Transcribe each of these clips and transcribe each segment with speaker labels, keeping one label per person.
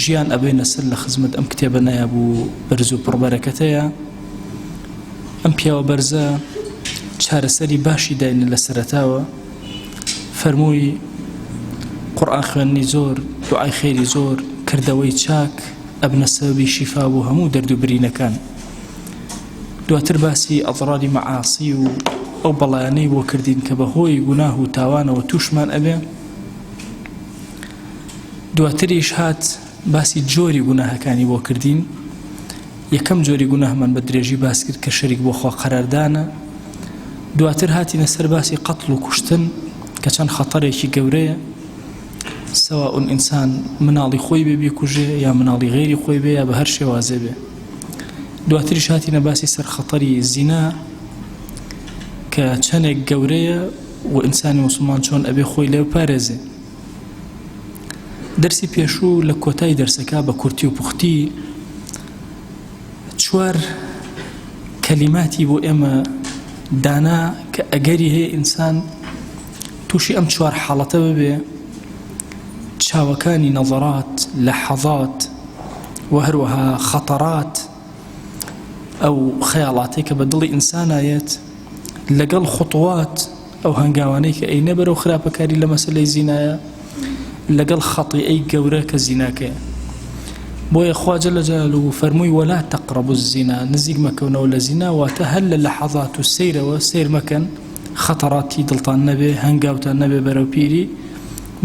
Speaker 1: ژیان ئەبەینە سەر لە خزمەت ئەم کتێبە نایاب و بەرز و پڕبەرەکەتەیە ئەم پیاوە بەرزە چارەسەری باشی داینە لە سەرتاوە فەرمووی قڕان خوێنی زۆر دوعای خێری زۆر کردەوەی چاک ئەبنە سەبی شیفا بۆ هەموو دەرد و برینەکان دواتر باسی ئەڵڕادی مەعاسی و ئەو بەڵیانەی بۆ کردین کە بە هۆی گوناه و تاوانەوە تووشمان ئەبێ دواتریش هات باسی جۆری گوناهەکانی بۆ کردین یەکەم جۆری گوناهمان بە درێژی باس کرد کە شەریک بۆ خوا قەراردانە دواتر هاتینە سەر باسی قەتڵ و کوشتن کە چەند خەتەرێکی گەورەیە سەوا ئون ئینسان مناڵی خۆی بێ بیکوژێ یا مناڵی غێری خۆی بێ یا بە هەر شێوازێ بێ دواتری شاتینە باسی سەر خەتەری زینا کە چەندێک گەورەیە و ئینسانی مسلمان چۆن ئەبێ خۆی لێ پارێزێ دەرسی پێشوو لە کۆتای دەرسەکە بە کورتی و پوختی چوار کەلیماتی بۆ ئێمە دانا کە ئەگەری هەیە ئینسان تووشی ئەم چوار حاڵەتە ببێ چاوەکانی نەڵڕات لە حەڵات و هەروەها خەتەڕات ئەو خەیاڵاتی کە بە دڵی ئینسانایەت لەگەڵ خوتوات ئەو هەنگاوانەی کە ئەینە بەرەو خراپەکاری لە مەسەلەی زینایە لەگەڵ خەتیئەی گەورە کە زیناکەیە بۆیە خوا جل جلاله فەرمووی ولا تقربوا الزنا نزیک مەکەونەوە لە زینا واتە هەر لە لەحەزات و سەیرەوە سیر مەکەن خەتەڕاتی دڵتان نەبێ هەنگاوتان نەبێ بەرەو پیری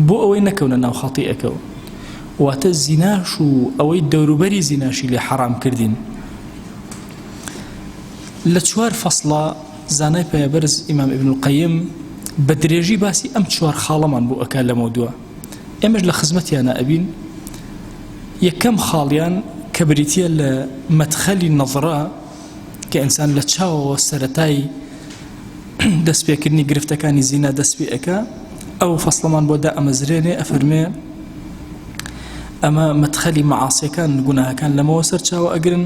Speaker 1: بۆ ئەوەی نەکەونە ناو خەتیئەکەوە واتە زیناش و ئەوەی دەوروبەری زیناشی لێ حەرام کردین لە چوار فەصلە زانای پایەبەرز ئیمام ابن القیم بە درێژی باسی ئەم چوار خاڵەمان بۆ ئەکا لەمە دووە ئێمەش لە خزمەتیانە ئەبین یەکەم خاڵیان کە بریتە لە مەتخەلی نەظرە کە ئینسان لە چاوەوە سەتایی دەستپێکردنی گرفتەکانی زینا دەست پێ ئەەکە ئەو فەسلەمان بۆ دا ئەمەزرێنێ ئەفەرمێ ئەمە مەتخەلی مەعاسیەکان گوناهەکان لەمەوە سەرچاوە ئەگرن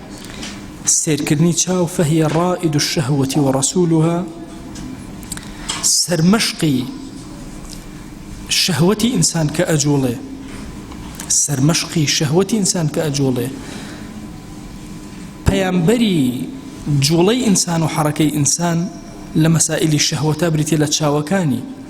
Speaker 1: سەیرکردنی چاو فهی ڕائد الشهوة ورسولها سەرمەشقی شەهوەتی ئینسان کە ئەجوڵێ سەرمەشقی شەهوەتی ئینسان کە ئەجوڵێ پەیامبەری جوڵەی ئینسان و حەڕەکەی ئینسان لە مەسائللی شەهوەتا بریتە لە چاوەکانی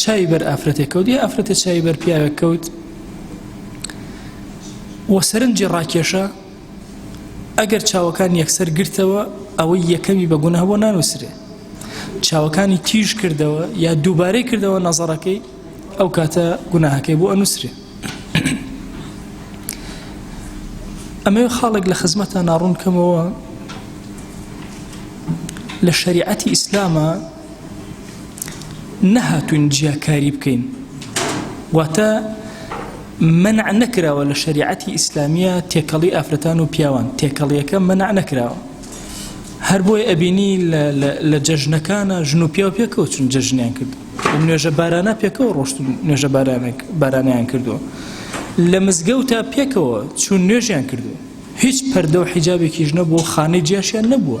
Speaker 1: چاوی بەر ئافرەتێک کەوت یا ئافرەتە چاوی بەر پیاوێک کەوت و سەرنجی ڕاکێشە ئەگەر چاوەکان یەکسەر گرتەوە ئەوەی یەکەمی بە گوناه بۆ نانووسرێ چاوەکانی تیژ کردەوە یا دووبارەی کردەوە نەزەڕەکەی ئەو کاتە گوناهەکەی بۆ ئەنووسرێ ئەمە خاڵێک لە خزمەتە ناڕوونکەمەوە لە شریعەتی ئیسلامە نەهاتوین جیاکاری بکەین واتە منع نەکراوە لە شریعەتی ئیسلامیە تێکەڵی ئافرەتان و پیاوان تێکەڵیەکە منع نەکراوە هەر بۆی ئەبینی لە جەژنەکانە ژن و پیاو پێکەوە چون جەژنیان کرد نوێژە بارانە پێکەوە ڕۆشت نوێژە بارانیان کردووە لە مزگەوتە پێکەوە چون نوێژیان کردو هیچ پەردە و حیجابێکیش نەبوو خانەی جیاشیان نەبووە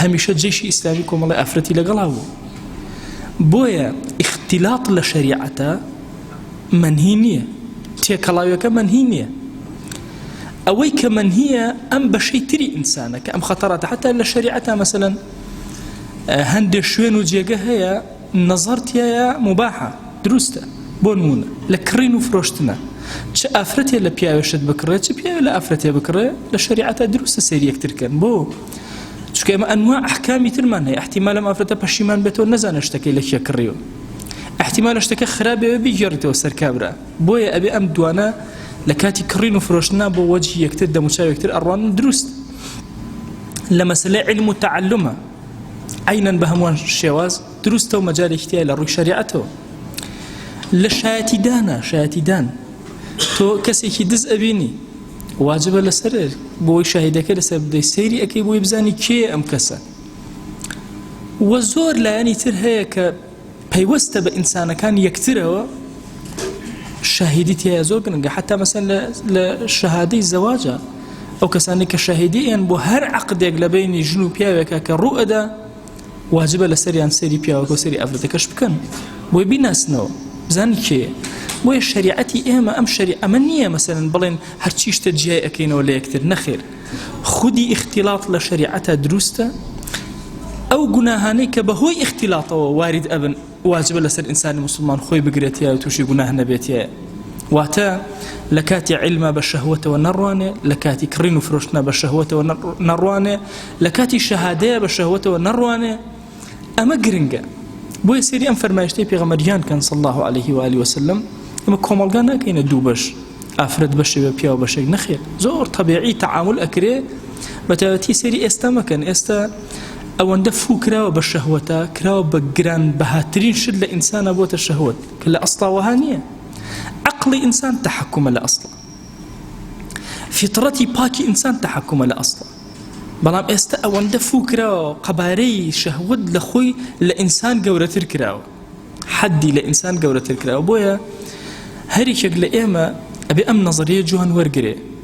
Speaker 1: هەمیشە جەیشی ئیسلامی کۆمەڵی ئافرەتی لەگەڵا بوو بۆیە ئیختیلاط لە شەریعەتە منهی نییە تێکەڵاویەکە منهی نییە ئەوەی کە منهیە ئەم بەشەی تری ئینسانە کە ئەم خەتەڕاتە حتا لە شەریعەتە مەسەن هەندێک شوێن و جێگە هەیە نەزەرتیایە مباحە دروستە بۆ نمونە لە کڕین و فرۆشتنە چ ئافرەتێ لە پیاوێشت بکڕێت چ پیاوێ لە ئافرەتێ بکڕێ لە شەریعەتە دروستە سەریەکترکەن بۆ چکە ئمە ئەنوا ئەحکامی ترمان هەیە احتیمالە مافرەتە پەشیمان بێتەوە نەزانە شتەکەی لە کێ کڕیوە احتیمالە شتەکە خراپێ بگێڕیتەوە سەرکابرا بۆیە ئەبێ ئەم دوانە لە کاتی کڕین و فرۆشتنا بۆ وەجی یەکتر دەموچاوێکتر ئەڕوان دروست لە مەسلە علم و تعلمە عینەن بە هەمووان شێواز دروستە و مەجارێکتیای لە ڕووی شریعەتەوە لە شایەتیدانە شایەتیدان تۆ کەسێکی دز ئەبینی واجبە لەسەر بۆی شاهیدەکە لەسەر بدەی سەیری ئەەکەی بۆی بزانی کێ ئەم کەسە وە زۆر لایەنی تر هەیە کە پەیوەستە بە ئینسانەکان یەکترەوە شاهیدی تایە زۆر گرنگە حتا مەسەن لە شەهادەی زەواجە ئەو کەسانی کە شاهیدیان بۆ هەر عقدێک لە بینی ژن و پیاوێکە کە ڕوئەدا واجبە لەسەریان سەری پیاوەکە و سەری ئافرەتەکەش بکەن بۆی بیناسنەوە بزانن کێ بۆیە شریعەتی ئێمە ئەم شەری ئەمە نییە مەسەرن بڵێن هەرچی شتە جیای ئەەکەینەوە لە یەکتر نەخێر خودی ئیختیلاات لە شریعەتە دروستە ئەو گوناهانەی کە بەهۆی ئیختیلاتەوە وارد ئەبن واجبە لەسەر ئینسانی مسلمان خۆی بگرێتە و تووشی گوناه نەبێتە واتە لە کاتی علمە بە شەهوتەوە نەڕوانێ لە کاتی کڕین و فرۆشتنە بە شەهوتەوە نەڕوانێ لە کاتی شەهادەیە بە شەهوتەوە نەڕوانێ ئەمە گرنگە بۆیە سری ئەم فەرمایشتی پێغەمەریان کەن صلی الله عليه و علی وسلم ئەمە کۆمەلگا ناکەینە دوو بەش ئافرەت بەشێ بە پیاو بەشێک نەخێت زۆر طبیعی تعامل ئەکرێ بەتەوەتی سری ئێستا مەکەن ئێستا ئەوەندە فو کراوە بە شەهوەتە کراوە بە گران بەهاترین شت لە ئینسانە بۆتە شەهوت کە لە ئەستاوەها نییە عقلی ئینسان تحکومە لە ئەسڵ فطرەتی پاکی ئینسان تحکومە لە ئەسڵ بەڵام ئێستا ئەوەندە فو کراوە قەبارەی شەهوت لە خۆی لە ئینسان گەورەتر کراوە حەدی لە ئینسان گەورەتر کراوە بۆیە هەریکێک لە ئێمە ئەبێ ئەم نظریە جوان وەرگێ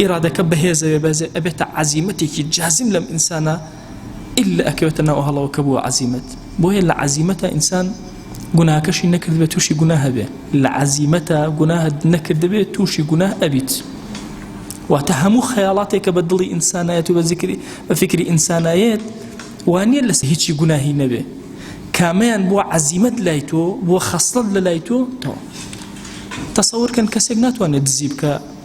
Speaker 1: ئیرادەکە بەهێزە بێ بەزێ ئەبێتە عەزیمەتێکی جازم لەم ئینسانە ئللا ئەکەوێتە ناو هەڵەوە کە بووە عەزیمەت بۆیە لە عەزیمەتە ئینسان گوناهەکەشی نەکردبێت تووشی گوناه هەبێ لە عەزیمەتە گوناهت نەکردبێت تووشی گوناه ئەبیت واتە هەموو خەیاڵاتێکە بە دڵی ئینسانایەت و بە زیکری بە فکری ئینسانایەت وانە لەس هیچی گوناهی نەبێ کامیان بووە عەزیمەت لای تۆ بووە خەستڵت لە لای تۆ تەوە تەسەورکەن کەسێک ناتوانێت دزی بکە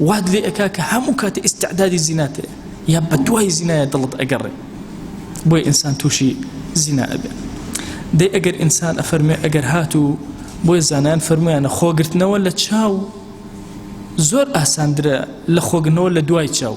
Speaker 1: وات لێ ئەکا کە هەموو کاتێ ئیستعدادی زینات هەیە یا بەدوای زینایە دڵت ئەگەڕێ بۆیە ئینسان تووشی زینا ئەبێ دەی ئەگەر ئینسان ئەفەرمێ ئەگەر هاتوو بۆیە زانان فەرمویانە خۆگرتنەوە لە چاو زۆر ئاساندرە لە خۆگرنەوە لە دوای چاو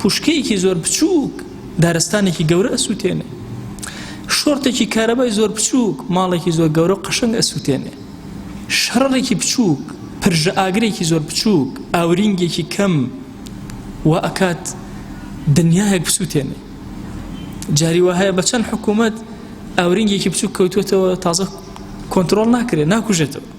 Speaker 1: پوشکەیەکی زۆر بچووک دارستانێکی گەورە ئەسووتێنێ شۆرتێکی کارەبای زۆر بچووک ماڵێکی زۆر گەورە قەشنگ ئەسووتێنێ شەڕێکی بچووک پرژە ئاگرێکی زۆر بچووک ئاورینگێکی کەم و ئەکات دنیایەک بسووتێنێ جاری وهەیە بە چەند حکوومەت ئاورینگێکی بچووک کەوتوێتەوە تازە کۆنتترۆل ناکرێت ناکوژێتەوە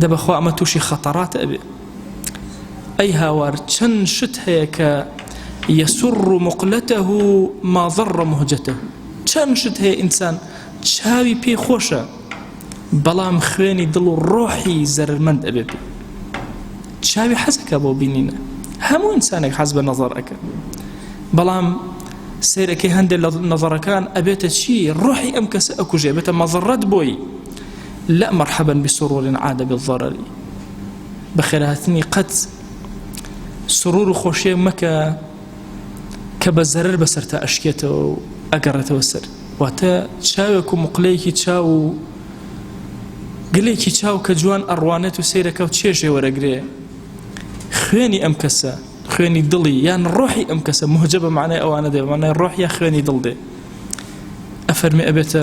Speaker 1: دە بەخوا ئەمە تووشی خەتەڕات ئەبێ ئەی هاوار چەند شت هەیە کە یەسر و مقلەتە و ماضڕ مهجەتە چەند شت هەیە ئینسان چاوی پێی خۆشە بەڵام خوێنی دڵ و ڕۆحی زەرمەند ئەبێ پێ چاوی حەزەکە بۆ بینینە هەموو ئینسانێک حەز بە نەزار ئەەکە بەڵام سیرەکەی هەندێک لە نەزارەکان ئەبێتە چی ڕۆحی ئەم کەسە ئەکوژێ بێتە مەزڕەت بۆی لا مرحبا بسرور عاد بالضرر بەخێرهاتنی قەت سرور و خۆشیێک مەکە کە بە زەرر بەسەر تا ئەشکێتەوە و ئەگەڕێتەوە سەر واتە چاوێک و مقلەیەکی چاو و گلێکی چاو کە جوان ئەڕوانێت و سیرەکە و چێژێ وەرەگرێ خوێنی ئەم کەسە خوێنی دڵی یان ڕۆحی ئەم کەسە مهجە بە معنای ئەوانە دێ مانای ڕۆحە خوێنی دڵ دێ ئەفەرمی ئەبێتە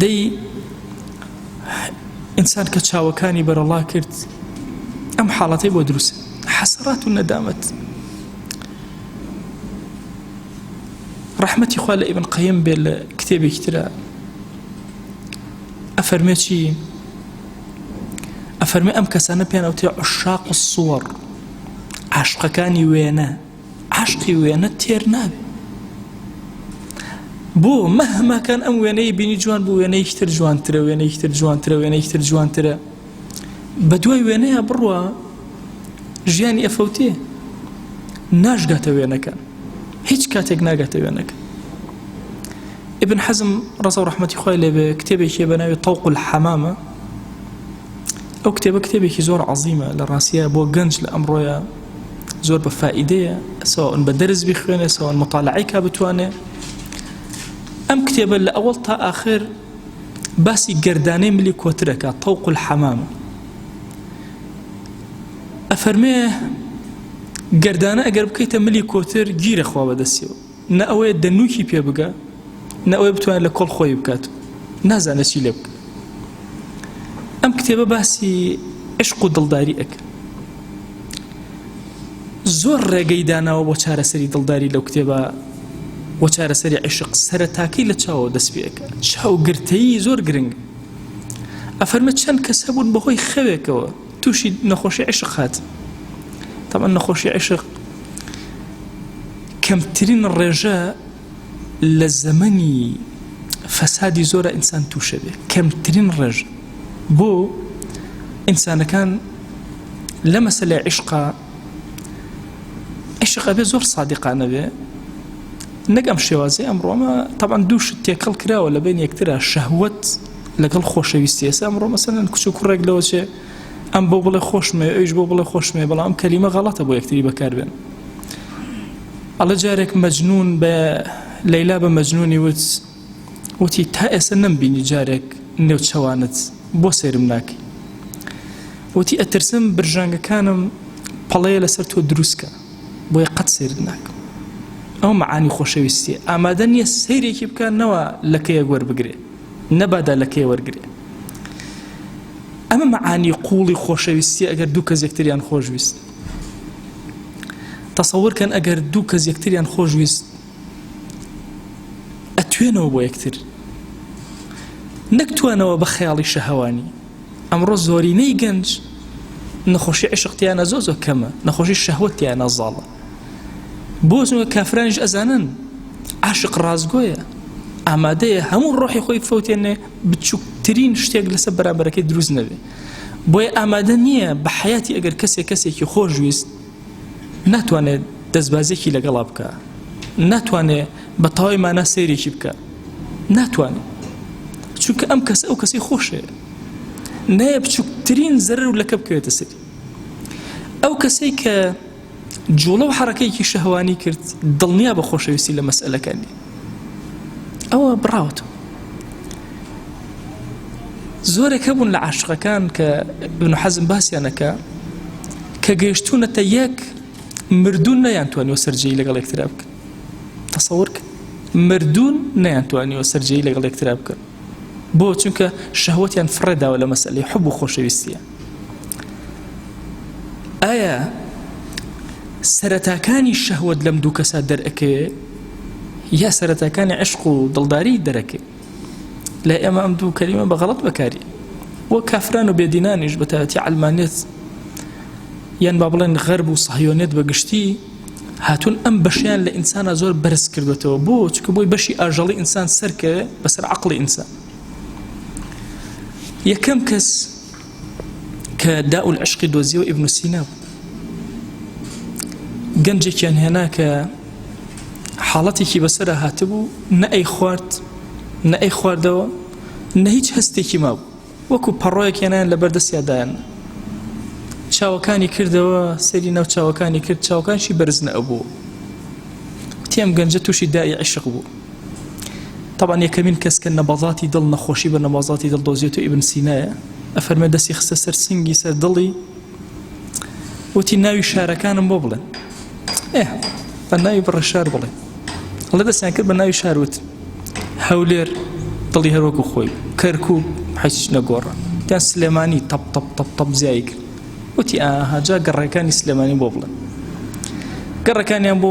Speaker 1: دەی ئینسان کە چاوەکانی بەرەڵا کرد ئەم حاڵەتی بۆ دروست حەسەڕات و نەدامەت ڕحمەتی خوا لە ئیبن قەیم بێت لە کتێبێکی ترە ئەفەرمێ چی ئەفەرمێ ئەم کەسانە پێیان ئەوتێ عشاق و سووەڕ عاشقەکانی وێنە عەشقی وێنە تێر نابێ بۆ مەهماکان ئەم وێنەی بینی جوان بوو وێنەیەکی تر جوانترە وێنەیەکی تر جوانترە وێنەیەکی تر جوانترە بە دوای وێنەیە بڕوە ژیانی ئەفەوتێ ناشگاتە وێنەکە هیچ کاتێک ناگاتە وێنەکە ابن حەزم ڕزە و ڕحمەتی خۆی لێبێ کتێبێکی بە ناوی تەوق و حەمامە ئەو کتێبە کتێبێکی زۆر عظیمە لە ڕاستە بۆ گەنج لە ئەمڕۆیە زۆر بە فائیدەیە سواون بە دەرز بخوێنێ سواون مطالعی کا بتوانێ ئەم کتێبە لە ئەوەڵ تا ئاخر باسی گردانەی ملی کۆترەکە تەوق الحەمام ئەفەرمێ گردانە ئەگەر بکەیتە ملی کۆتر گیرەخوا بەدەستیەوە نە ئەوەیە دەنووکی پێ بگا، نە ئەوەیە بتوانێت لە کۆڵ خۆی بکات و نازانێت چی لێ بکات. ئەم کتێبە باسی عشق و دڵداری ئەکە. زۆر ڕێگەی داناوە بۆ چارەسەری دڵداری لەو کتێبە و چارەسەری عشق سەرەتاکەی لە چاوەوە دەست پێەکە چاوگرتەیی زۆر گرنگ ئەفەرمە چەند کەس هەبوون بەهۆی خەوێکەوە توشی نەخۆشی عشق هات طبعا نەخۆشی عشق کەمترین ڕێژە لە زەمەنی فەسادی زۆرە ئینسان تووشە بێ کەمترین ڕێژ بۆ ئینسانەکان لە مەسلە عشقا عشق ئەبێ زۆر سادقانە بێ نەگەم شێوازی ئەمڕۆمە تاوان دووش تێکەڵ کراوە لە بین یەکترا شەهوت لەگەڵ خۆشەویستی ئێستا ئەمڕۆ مەسەن کچ و کوڕێک لەوە چێ ئەم بۆ بڵێ خۆشمێ ئەوش بۆ بڵێ خۆشمێ بەڵام کەلیمە غەڵەتە بۆ یەکتری بەکاربێن ئەڵە جارێک مەجنون بە لەیلا بە مەجنونی وت وتی تا ئێستا نەمبینی جارێک نێو چەوانت بۆ سێرم ناکەی وتی ئەترسم برژانگەکانم پەڵەیە لەسەر تۆ دروستکە بۆیە قەت سێرت ناکەم ئەو معانی خۆشەویستی ئامادە نییە سیرێکی بکات نەوە لەکەیە گوەربگرێت نەبادا لە کێ وەرگرێ ئەمە مەعانی قوڵی خۆشەویستی ئەگەر دوو کەس یەکتریان خۆشویست تەسەورکەن ئەگەر دوو کەس یەکتریان خۆشویست ئەتوێنەوە بۆ یەکتر نەکتوانەوە بە خەیاڵی شەهوانی ئەمڕۆ زۆرینەی گەنج نەخۆشی عشقتیانە زۆ زۆ کەمە نەخۆشی شەهوتیانە زاڵە بۆ چونکە کافرانیش ئەزانن عاشق ڕازگۆیە ئامادەیە هەموو ڕۆحی خۆی فوتێنێ بچووکترین شتێک لەسەر بەرامبەرەکەی دروست نەبێ بۆیە ئامادە نییە بە حیاتی ئەگەر کەسێک کەسێکی خۆشویست ناتوانێت دەستبازێکی لەگەڵا بکە ناتوانێ بە تەواوی مانا سێرێکی بکە ناتوانێت چونکە ئەم کەس ئەو کەسی خۆشێ نایە بچووکترین زەرر لەکە بکەوێتە سەری ئەو کەسەی کە جوڵە و حەڕەکەیەکی شەهوانی کرد دڵنیا بە خۆشەویستی لە مەسئلەکە نی ئەوە بڕاوت زۆرێک هەبوون لە عاشقەکان کە ابن حەزم باسییانەکە کە گەیشتونەتە یەک مردون نەیانتوانیوە سەررجەی لەگەڵ یەکترا بکە تەسەور کرد مردون نەیانتوانیوە سەررجەی لەگەڵ یەکترا بکە بۆ چونکە شەهوتیان فڕێداوە لە مەسلی حب و خۆشەویستە ئایا سەرەتاکانی شەهوت لەم دوو کەسا دەرەکەوێ یا سەرەتاکانی عشق و دڵداری دەرەکەێ لە ئێمە ئەم دوو کەریمە بە غەڵت بەکاری وە کافران و بێدینانیش بەتاتی ئەلمانێت یان با بڵێن غەرب و سەهیۆنێت بەگشتی هاتون ئەم بەشیان لە ئینسانە زۆر بەرز کردوێتەوە بۆ چکە بۆی بەشی ئاژەڵی ئینسان سەرکەوێ بەسەر عقلی ئینسان یەکەم کەس کە داء العشق دۆزیەوە ئیبن سینا بوو گەنجێکیان هێنا کە حاڵەتێکی بەسەر هاتبوو نە ئەی خوارد نە ئەی خواردەوە نە هیچ هەستێکی مابوو وەکو پەڕۆیەکێنان لە بەردەستیادایان چاوەکانی کردەوە سەری ناو چاوەکانی کرد چاوکانشی بەرزنە ئەبوو تێم گەنجە تووشی دای عیشق بوو طبعا یەکەمین کەس کە نەبەزاتی دڵ نەخۆشی بە نەبازاتی دڵ دۆزیێت و ئیبن سینایە ئەفەرمە دەستی خستە سەر سنگی سەر دڵی وتی ناوی شارەکانم بۆ بڵێن ئێ بە ناوی بڕە شار بڵێ هەڵە دەستیان کرد بە ناوی شاروت هەولێر دڵی هەروەکو خۆی کەرکوو حەچ نەگۆڕە تا سلێمانی تەپ تەپ تەپ تەپ زیای کرد وتی ئاهاجا گەڕێکانی سلێمانی بۆ بڵێن گەڕەکانیان بۆ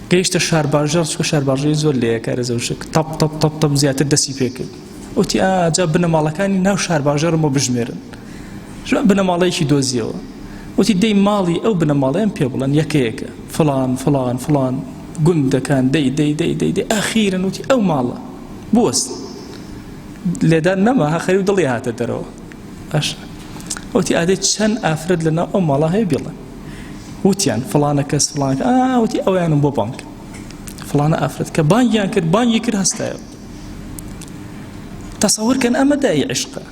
Speaker 1: گەیشتە شارباژێڕ چکە شارباژەی زۆر لەیە کارە زەوشک تەپ تەپ تەپ تەپ زیاتر دەسی پێکرد وتی ئاجا بنەماڵەکانی ناو شارباژێڕم بۆ بژمێرن ژوان بنەماڵەیەکی دۆزیەوە وتی دەی ماڵی ئەو بنەماڵەیان پێ بڵێن یەکەیەکە فلان فلان فلان گوندەکان دەی دەی دەی دەی دەی ئاخیرن وتی ئەو ماڵە بوەست لێدان نەما هەخەری و دڵی هاتە دەرەوە ئەش وتی ئادەی چەند ئافرەت لەناو ئەو ماڵە هەیە بڵێن وتیان فلانە کەس فلانکە ئاوتی ئەویانم بۆ بانک فلانە ئافرەت کە بانگیان کرد بانگی کرد هەستایە تەسەورکەن ئەمە دای عشقە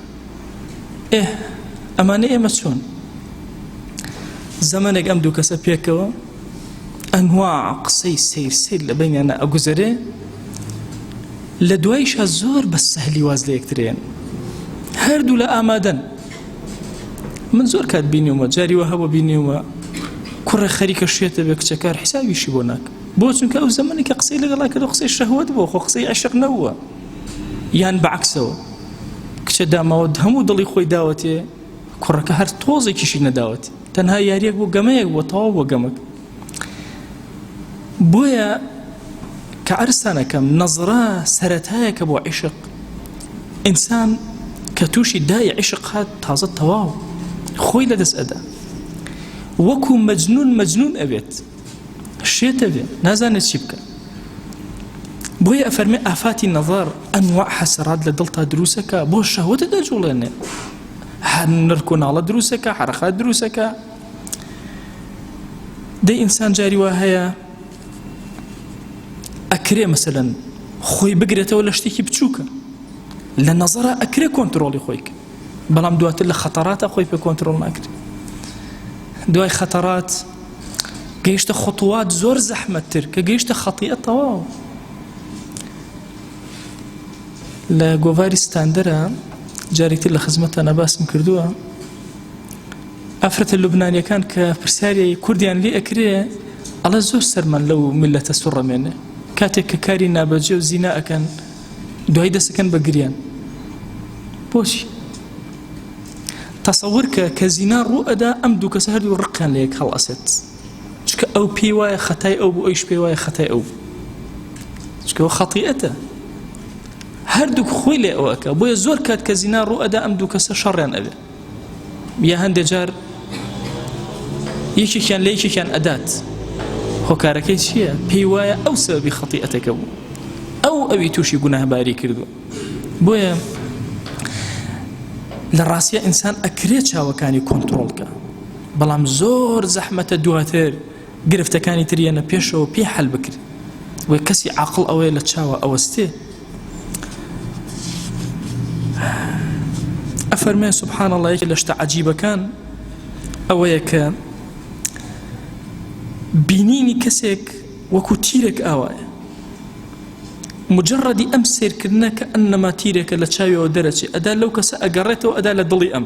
Speaker 1: ئێ ئەمانە ئێمە چۆن زەمنێک ئەم دوو کەسە پێکەوە ئەنوا قسەی سیر سیر لە بینیانە ئەگوزەرێ لە دوایشە زۆر بە سەهلی واز لە یەکترێن هەردوو لە ئامادەن من زۆر کات بینیومە جاری وە هەبوو بینیومە کوڕە خەریکە شێتە بێ کچەکار حسابیشی بۆ ناک بۆ چونکە ئەو زمانی کە قسەی لەگەڵا کردو قسەی شەهوت بۆ خۆ قسەی عشق نەوە یان بەعکسەوە کچە داماوە هەموو دڵی خۆی داوەتێ کوڕەکە هەر تۆزێکیشی نەداوەت تەنها یاریەک بۆ گەمەیەک بۆ تەواو بۆ گەمەک بۆیە کە عرسانەکەم نەزرا سەرەتایەکە بۆ عیشق ئینسان کە تووشی دای عیشق هات تازە تەواو خۆی لەدەست ئەدا وەکو مەجنون مەجنون ئەوێت شێتە بێ نازانێت چی بکە بۆیە ئەفەرمێ ئافاتی نەظر ئەنوا حەسەرات لە دڵتا دروستەکە بۆ شەهوتە دەجوڵێنێ هەر نرکۆناڵە دروستەکە حرەخات دروستەکە دەی ئینسان جاری وا هەیە ئەکرێ مەسەن خۆی بگرێتەوە لە شتێکی بچووکە لە نەزەرە ئەکرێ کۆنتترۆلی خۆی کرد بەڵام دواتر لە خەتەڕاتە خۆی پێ کۆنتترۆل ناکرێت دوای خەتەڕات گەیشتە خطوات زۆر زەحمەتتر کە گەیشتە خەتیە تەواو لە گۆڤاری ستاندەرە جارێکتر لە خزمەتە نەباسم کردووە ئافرەتە لوبنانیەکان کە پرسیاری کوردیان لێ ئەکرێ ئەڵە زۆر سەرمان لەو میلەتە سوڕەمێنێ کاتێک کە کاری نابەجێ و زینا ئەکەن دوای دەسەکەن بە گریان بۆچی تەسەور کە کە زینا ڕوو ئەدا ئەم دوو کەسە هەردوو ڕقیان لە یەک هەڵ ئەسێت چکە ئەو پێی وایە خەتای ئەو بۆ ئەوش پێی وایە خەتای ئەو چکەەوە خەتیئەتە هەردوو خۆی لێ ئەوەکە بۆیە زۆر کات کە زینا ڕوو ئەدا ئەم دوو کەسە شەڕێن ئەوێ یا هەندێک جار یەکێکیان لە یەکێکیان ئەدات هۆکارەکەی چییە پێی وایە ئەو سەبی خەتی ئەتەکە بوو ئەو ئەوی تووشی گوناهباری کردو بۆیە لە ڕاستە ئینسان ئەکرێ چاوەکانی کۆنتترۆلکە بەڵام زۆر زەحمەتە دواتر گرفتەکانی تریەنە پێشەوە پێ حل بکرێت وە کەسی عقل ئەوەیە لە چاوە ئەوەستێ ئەفەرمێ سبحان الله یەکێ لە شتە عجیبەکان ئەوەیە کە بینینی کەسێک وەکو تیرێک ئاوایە مجرڕدی ئەم سیرکردنە کە ئەنەما تیرێکە لە چاویەوە دەرەچێ ئەدا لەو کەسە ئەگەڕێتەوە ئەدا لە دڵی ئەم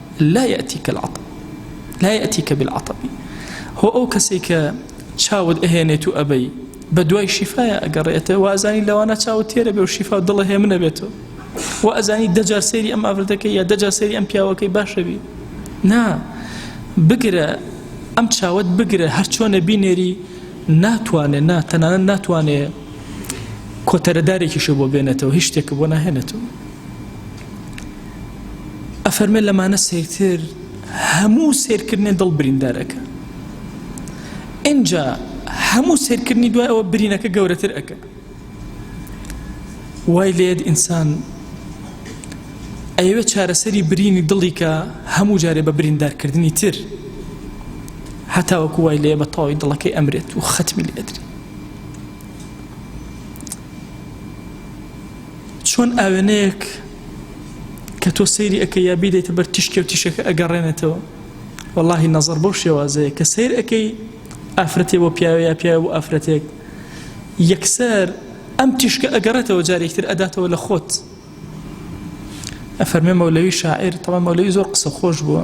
Speaker 1: لا یاتیک العطب لا یاتیک بالعطب هو او کەسێک کە چاوت ئەهێنێت و ئەبەی بە دوای شیفاە ئەگەڕێتە وازانی لەوانە چاوت تێرە بێ و شیفا دڵە هێ منە بێتەوە و ئەزانی دەجار سێری ئەم ئافرەتەکە یا دەجار سێری ئەم پیاوەکەی باشەبی نا بگرە ئەم چاوت بگرە هەر چۆنە بینێری ناتوانێت نا تەنانە ناتوانێت کۆتەرەدارێکیشە بۆ بێنێتەوە هیچ شتێکە بۆ ناهێنێتەوە ئەفەرمێ لەمانە سەیرتر هەموو سێرکردنێ دڵ بریندارەکە ئینجا هەموو سێرکردنی دوای ئەوە برینەکە گەورەتر ئەەکە وای لێت ئینسان ئەوێ چارەسەری برینی دڵیکە هەموو جارێ بە بریندارکردنی تر هەتاوەکو وای لێ بە تەواوی دڵەکەی ئەمرێت و خەتمی لێدرێت چۆن ئاوێنەیەک کە تۆ سەیری ئەەکە یا بیدەیتە بەر تیشکێ و تیشەکە ئەگەڕێنێتەوە واللهی نەزەر بەو شێوازەیە کە سیر ئەەکەی ئافرەتێ بۆ پیاوە یا پیاوە بۆ ئافرەتێک یەکسەر ئەم تیشکە ئەگەڕێتەوە جارێکتر ئەداتەوە لە خۆت ئەفەرمێ مەولەوی شاعر تەڵە مەولەوی زۆر قسە خۆش بووە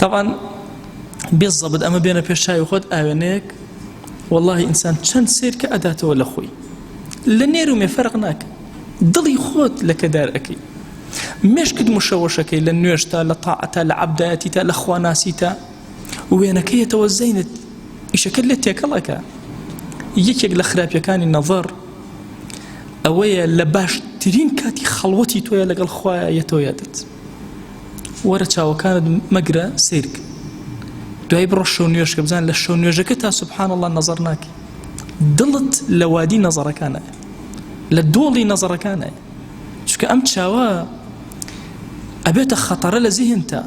Speaker 1: تەبعەن بێ زەبت ئەمە بێنە پێش چاوی خۆت ئاوێنەیەک واللهی ئینسان چەند سیر کە ئەداتەوە لە خۆی لە نێر و مێ فەرق ناکە دڵی خۆت لەکەدار ئەەکەی مشکت مشەوەشەکەی لە نوێشتا لە تاعتا لە عبدایەتی تا لە خواناسی تا وێنەکەیەتەوە زەینت ئیشەکەت لێ تێکەڵەکە یەکێک لە خراپیەکانی نەڤەر ئەوەیە لە باشترین کاتی خەڵوەتی تۆیە لەگەڵ خوایە یەتۆیەتت وەرە چاوەکانت مەگرە سیرک دوای بڕۆ شەو نوێژکە بزان لە شەو نوێژەکە تا سبحان الله نظر ناکی دڵت لە وادی نەزەڕەکانە لە دۆڵی نەزەڕەکانە چکە ئەم چاوە ئەبێتە خەتەرە لە زیهنتا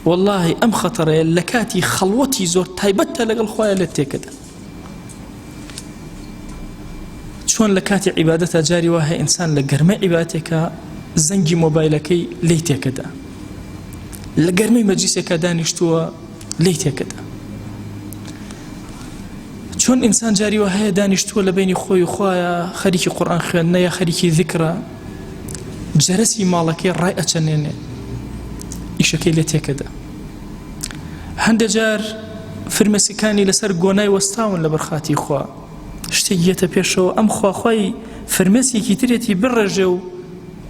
Speaker 1: واللهی ئەم خەتەرەیە لە کاتی خەڵوەتی زۆر تایبەتە لەگەڵ خۆیان لە تێکەدا چۆن لە کاتی عیبادەتە جاری وە هەیە ئینسان لە گەرمە عیباتێکە زەنگی مۆبایلەکەی لی تێکەدا لە گەرمی مەجیسێکە دانیشتووە لی تێکەدا چۆن ئینسان جاری وە هەیە دانیشتووە لە بینی خۆی خویە خەریکی قڕان خوێندنە یا خەریکی ذکرە جەرەسی ماڵەکەی ڕای ئەچەنێنێ ئیشەکەی لە تێکەدا هەندێک جار فرمێسکەکانی لەسەر گۆنای وەستاون لە بەرخاتی خوا شتێک یەتە پێشەوە ئەم خواخوای فرمێسکێکی ترێتی بڕێژێ و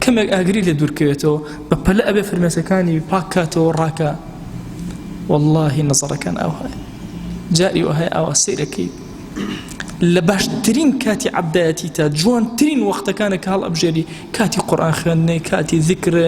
Speaker 1: کەمێک ئاگری لە دوورکەوێتەوە بە پەلە ئەبێ فرمێسەکانی پاکاتەوە ڕاکە واللهی نەزەڕەکان ئەوهای جاری وهەیە ئاوا سیرەکەی لە باشترین کاتی عبدایەتی تا جوانترین وەختەکانە کاڵ ئەبژێری کاتی قڕان خوێندنەی کاتی ذکرە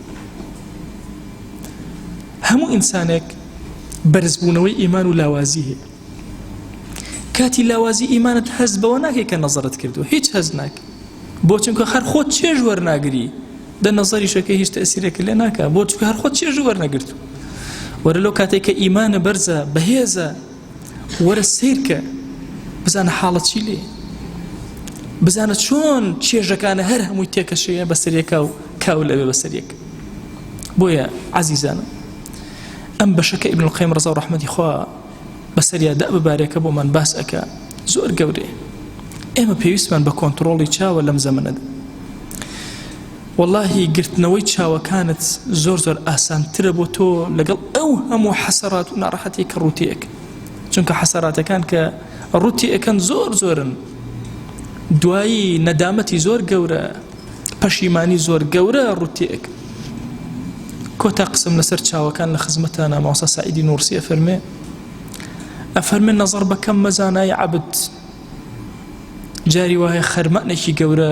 Speaker 1: هەموو ئینسانێک بەرزبوونەوەی ئیمان و لاوازی هەیە کاتی لاوازی ئیمانت هەز بەوە ناکەی کە نەزرت کردو هیچ هەز ناک بۆ چونکە هەر خۆت چێژ وەرناگری دە نەزەریشەکە هیچ تەسیرەکە لێ ناکە بۆ چکە هەر خۆت چێژ وەرنەگرت وەرە لەو کاتێک کە ئیمانە بەرزە بەهێزە وەرە سەیرکە بزانە حاڵە چی لێ بزانە چۆن چێژەکانە هەر هەمووی تێکەشەیە بەسەرەکە و کاو لەوێ بەسەرەک بۆیە عزیزانم ئەم بەشەکە ئیبن القیم ڕزا و ڕحمەتی خوا بەسەریا دە ببارێکە بۆمان باس ئەکە زۆر گەورەیە ئێمە پێویستمان بە کۆنتترۆڵی چاوە لەم زەمنەدا وەڵاهی گرتنەوەی چاوەکانت زۆر زۆر ئاسانترە بۆ تۆ لەگەڵ ئەو هەموو حەسەرات و ناڕەحەتی کە ڕوتێک چونکە حەسەراتەکان کە ڕوتی ئەەکەن زۆر زۆرن دوایی نەدامەتی زۆر گەورە پەشیمانی زۆر گەورە ڕوتێک کۆتا قسم لەسەر چاوەکان لە خزمەتە ناماوسا سعیدی نورسیە فەرمێ ئەفەرمێ نەزەر بەکەم مەزانای عبد جاری وایە خەرمانێکی گەورە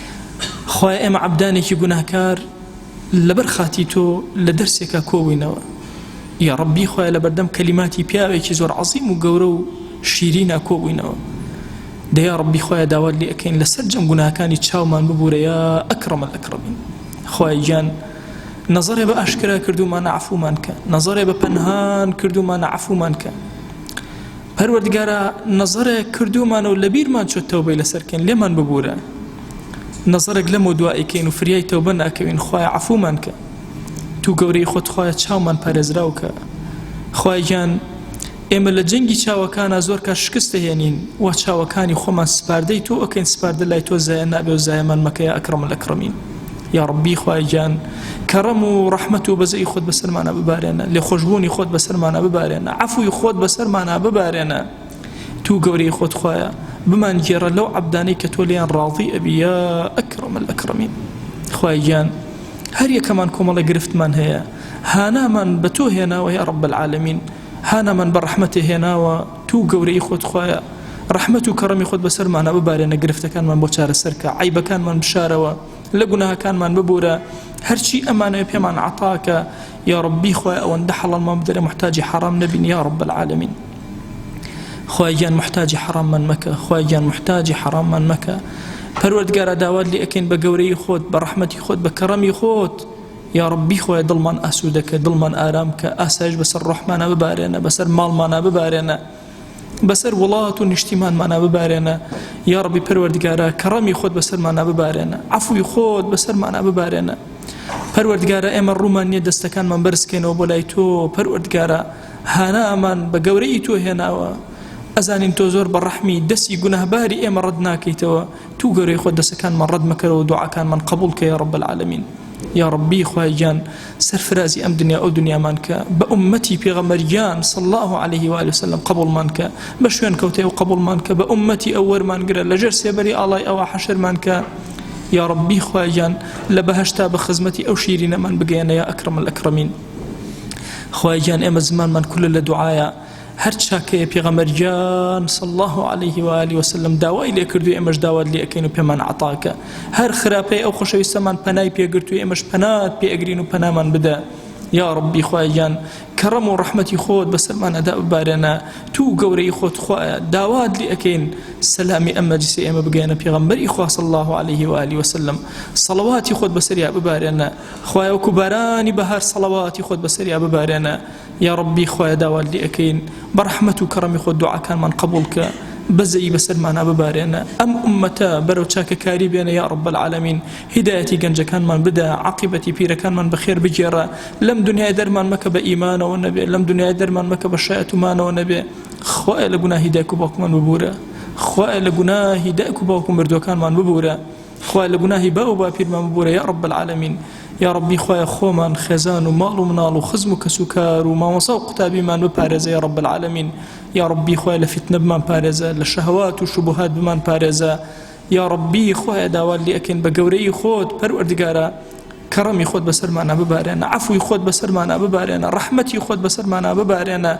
Speaker 1: خوای ئێمە عبدانێکی گوناهکار لەبەر خاتی تۆ لە دەرسێکە کۆبووینەوە یا ڕبی خۆی لە بەردەم کەلیماتی پیاوێکی زۆر عظیم و گەورە و شیرینە کۆبووینەوە دەیا ڕبی خۆی داوات لێ ئەەکەین لەسەر جەم گوناهەکانی چاومان ببوورە یا ئەکڕمە ئەکڕبین خۆی گیان نظرێ بە ئاشکرا کردومانە عفومان کە نظرێ بە پەنهان کردومانە عفومان کە پەروەردگارا نەزەرێک کردوومانە و لەبیرمان چۆت تەوبەی لەسەر بکەین لێمان ببوورە نەزەرێک لەمەو دوا ئەیکەین و فریای تەوبە ناکەوین خوایە عەفوومان کە تو گەورەی خۆت خوایە چاومان پارێزراو کە خوای گیان ئێمە لە جەنگی چاوەکانە زۆر کار شکستە هێنین و چاوەکانی خۆمان سپاردەی تۆ ئەکەین سپاردە لای تۆ زایە نابێ و زایەمان مەکەیە ئەکڕم لە کڕمین یاڕەبی خوای گیان کەڕەم و ڕەحمەت و بەزەی خۆت بەسەرمانە ببارێنە لێ خۆشببوونی خۆت بەسەرمانە ببارێنە عفوی خۆت بەسەرمانە ببارێنە تو گەورەی خۆت خوایە بمان گێڕە لەو عبدانەی کە تۆ لێیان ڕاڵی ئەبی یا ئەکڕم ئەکڕمی خوای گیان هەر یەکەمان کۆمەڵە گرفتمان هەیە هانامان بە تۆ هێناوە یا ڕب العالمین هانامان بە ڕەحمەتێ هێناوە توو گەورەی خۆت خوایە ڕەحمەت و کەڕەمی خۆت بەسەرمانە ببارێنە گرفتەکانمان بۆ چارەسەرکە عیبەکانمان بشارەوە لە گوناهەکانمان ببورە هەرچی ئەمانەوە پێمان عتاکە یا ڕبی خوای ئەوەندە حەڵمان بدەێ محتاجی حرام نەبین یا ڕب العالمین خواگیان محتاجی حراممان مەکە خواگیان محتاجی حراممان مەکە پەروەردگارە داوات لێ ئەکەین بە گەورەی خۆت بە ڕەحمەتی خۆت بە کەڕەمی خۆت یاڕەبی خوایە دڵمان ئاسوودەکە دڵمان ئارام کە ئاسایش بەسەر ڕحمانە ببارێنە بەسەر ماڵمانە ببارێنە بەسەر وڵات و نیشتیمانمانە ببارێنە یاڕبی پەروەردگارە کەڕەمی خۆت بەسەرمانە ببارێنە عفوی خۆت بەسەرمانە ببارێنە پەروەردگارە ئێمە ڕوومان نییە دەستەکانمان بەرزکەینەوە بۆ لای تۆ پەروەردگارە هانامان بە گەورەی تۆ هێناوە ئەزانین تۆ زۆر بە ڕەحمی دەسی گوناهباری ئێمە ڕەت ناکەیتەوە تو گەورەی خۆت دەسەکانمان ڕەت مەکەرەوە دوعاکانمان قبول کە یا رب العالمین یا ربی خوای گیان سەرفرازی ئەم دنیا ئەو دنیامان کە بە عمەتی پێغەمەریان صلى الله عليه وآله وسلم قبولمان کە بە شوێن کەوتێ و قبولمان کە بە عمەتی ئەو وەرمان گرە لەژێر سێبەری ئاڵای ئەوە حەشرمان کە یا ربی خواگیان لە بەهشتا بە خزمەتی ئەو شیرینەمان بگەیەنە یا ئەکرم الأکرمین خواگیان ئێمە زمانمان کولە لە دوعاە هەر چاکەیە پێغەمبەر گیان صلی الله علیه و آله وسلم داوای لێ کردو ئێمەش داوات لێ ئەکەین و پێمان عطاکە هەر خراپەی ئەو خۆشەویستەمان پەنای پێگرت و ئێمەش پەنات پێ ئەگرین و پەنامان بدە یا ڕبی خوایان کەڕەم و ڕەحمەتی خۆت بەسەرمان ئەدا ببارێنە تو گەورەی خۆت خوایە داوات لێ ئەەکەین سەلامی ئەم مەجلسی ئێمە بگەێنە پێغمبەری خواص الله عليه و علی وسلم سەڵواتی خۆت بەسەریا ببارێنە خوایە وکو بارانی بەهار سەڵواتی خۆت بەسەریا ببارێنە یاڕەبی خوایە داوات لێ ئەکەین بە ڕەحمەت و کەڕەمی خۆ دوعاکانمان قبولکە بەزەیی بەسەرمانە ببارێنە ئەم ئومەتە بەرەو چاکەکاری بێنە یا ڕب العالمین هیدایەتی گەنجەکانمان بدە عقیبەتی پیرەکانمان بەخێر بگێڕە لەم دنیای دەرمان مەکە بە ئیمانەوە نەبێ لەم دنیای دەرمان مەکە بە شایەتمانەوە نەبێ خوایە لە گوناهی دایک و باوکمان ببوورە خوایە لە گوناهی دایک و باوکم مردوەکانمان ببوورە خوایە لە گوناهی باو باپیرمان ببورە یا رب العالمین یا ربی خوایە خۆمان خێزان و ماڵ و مناڵ و خزم و کەس و کار و مامۆسا و قوتابیمان بپارێزە یا رب العالمین یا ربی خوای لە فتنە بمان پارێزە لە شەهوات و شبهات بمان پارێزە یا ربی خوایە داوات لێ ئەکەین بە گەورەی خۆت پەروەردگارە کەڕەمی خۆت بەسەرمانە ببارێنە عفوی خۆت بەسەرمانە ببارێنە ڕەحمەتی خۆت بەسەرمانە ببارێنە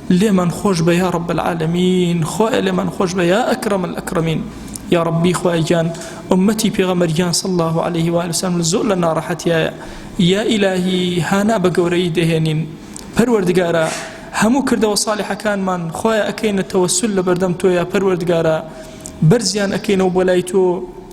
Speaker 1: لێمان خۆش بە یا ڕب العالمین خۆ لێمان خۆش بە یا ئەکرم الأکرمین یا ڕبی خوایگیان ئومەتی پێغەمەرگیان صلی الله عليه و وسلم زۆر لە ناڕەحەتیایە یا ئیلاهی هانا بە گەورەی دەهێنین پەروەردگارە هەموو کردەوە ساڵحەکانمان خۆیان ئەکەینە تەوەسل لە بەردەم تۆیە پەروەردگارە بەرزیان ئەکەینەوە بۆ لای تۆ